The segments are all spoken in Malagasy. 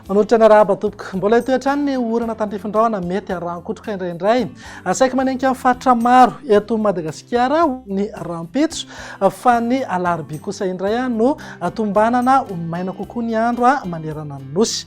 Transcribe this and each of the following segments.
Manolotra ny arahaba tompoko. Mbola etoy hatrany ny orana tandrifin-drahona mety harankotroka indraindray. Asaiky manenika amin'ny faritra maro eto Madagasikara ny rahampitso fa ny alarobia kosa indray no tombanana ho maina kokoa ny andro manerana ny nosy.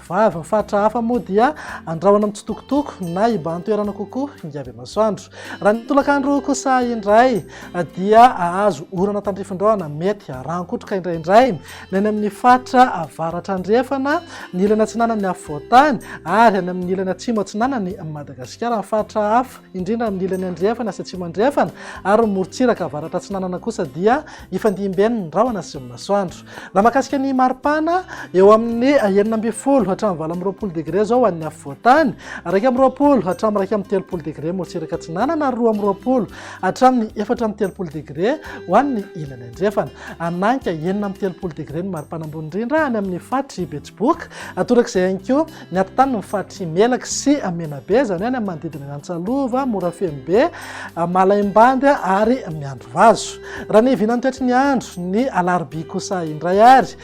Vava, faritra hafa moa dia andrahona mitsitokotoko na hibahan-toerana kokoa hingavy aman-soandro. Raha ny tolakandro kosa indray dia hahazo orana tandrifin-drahona mety harankotroka indraindray ny any amin'ny faritra avaratra andrefana, ny ilany atsinanan'ny afovoan-tany ary any amin'ny ilany atsimo atsinanan'i Madagasikara. Ny faritra hafa, indrindra amin'ny ilany andrefana sy atsimo andrefana ary ny morontsiraka avaratra atsinanana kosa dia hifandimben'ny rahona sy ny masoandro. Raha mahakasika ny maripana, eo amin'ny enina ambin'ny folo hatramin'ny valo amby roapolo degre izao ho an'ny afovoantany, iraika amby roapolo hatramin'ny iraika amby telopolo degre motsiraka atsinanana ary roa amby roapolo hatramin'ny efatra amby telopolo degre ho an'ny ilany andrefana. Hananka enina amby telopolo degre ny maripana ambony indrindra any amin'ny faritry Betsiboka, torak'izay ihany koa Ny aty tany ny faritry Melaky sy Menabe, izany hoe any amin'ny manodidina an'i Antsalova, Morafenobe, Malaimbandy ary Miandrivazo. Raha ny vinan'ny toetry ny andro, ny alarobia kosa indray ary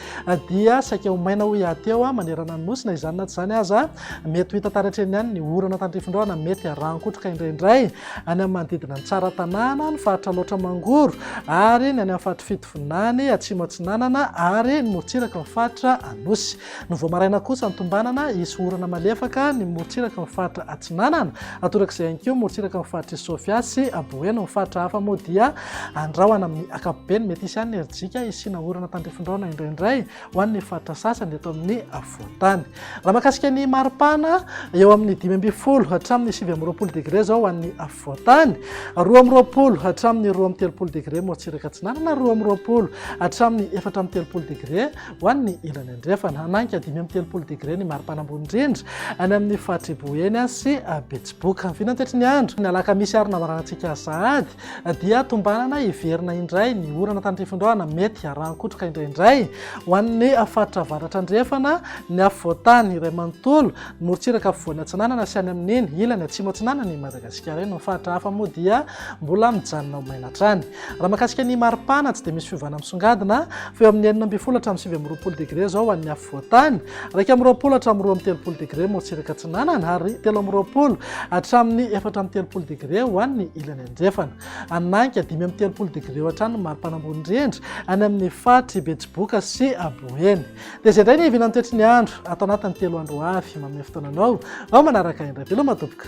dia saika ho maina ho hiaty eo manerana ny nosy. Na izany na tsy izany aza, mety ho hita tary hatreny ihany ny orana tandrifindraona mety harahan-kotroka indraindray any amin'ny manodidina an'i Tsaratanàna, ny faritra Alaotra Mangoro ary ny any amin'ny faritry Fitovinany, Atsimo Atsinanana ary ny morontsirak'i ny faritra Anosy. Ny vao maraina kosa ny tombanana, hisy orana malefaka ny morontsiraky ny faritra Atsinanana. Hatorak'izay ihany koa morontsiraky ny faritr'i Sofia sy Boeny. Ny faritra hafa moa dia andrahona amin'ny ankapobeny. Mety hisy ihany ny rijika hisiana orana tandrifindraona indraindray ho an'ny faritra sasany eto amin'ny afovoan-tany. Raha mahakasika ny maripana, eo amin'ny dimy ambin'ny folo hatramin'ny sivy amby roapolo degre izao ho an'ny afovoan-tany, roa amby roapolo hatramin'ny roa amby telopolo degre morontsiraka Atsinanana, roa amby roapolo hatramin'ny efatra amby telopolo degre Ho an'ny ilany andrefana, hanainga dimy amby telopolo degre ny maripana ambony indrindra any amin'ny faritry Boeny sy Betsiboka. Ny vinantitry ny andro, ny alakamisy ary ny lamaranantsika sahady dia tombanana hiverina indray ny orana tandrifindohana mety harahan-kotroka indraindray ho an'ny faritra avaratra andrefana, ny afovoantany iray manontolo, ny morontsiraka afovoany atsinanana sy any amin'iny ilany atsimo atsinanan'i Madagasikara iny. Ny faritra hafa moa dia mbola mijanona ho maina hatrany. Raha mahakasika ny maripana, tsy dia misy fiovana misongadina fa eo amin'ny enina ambin'ny folo hatramin'ny sivy amby roapolo degre izao ho an'ny afovoan-tany, iraika amby roapolo hatramin'ny roa amby telopolo degre morotsiraka atsinanana ary telo amby roapolo hatramin'ny efatra amby telopolo degre ho an'ny ilany andrefana. Any Nahika, dimy amby telopolo degre eo hatrany ny maripana ambony indrindra any amin'ny faritr' i Betsiboka sy Boeny. Dia izay indray ny hiaviana ny toetry ny andro ato anatin'ny telo andro ho avy. Manome fotoana anao vao manaraka indray. Veloma tompoko.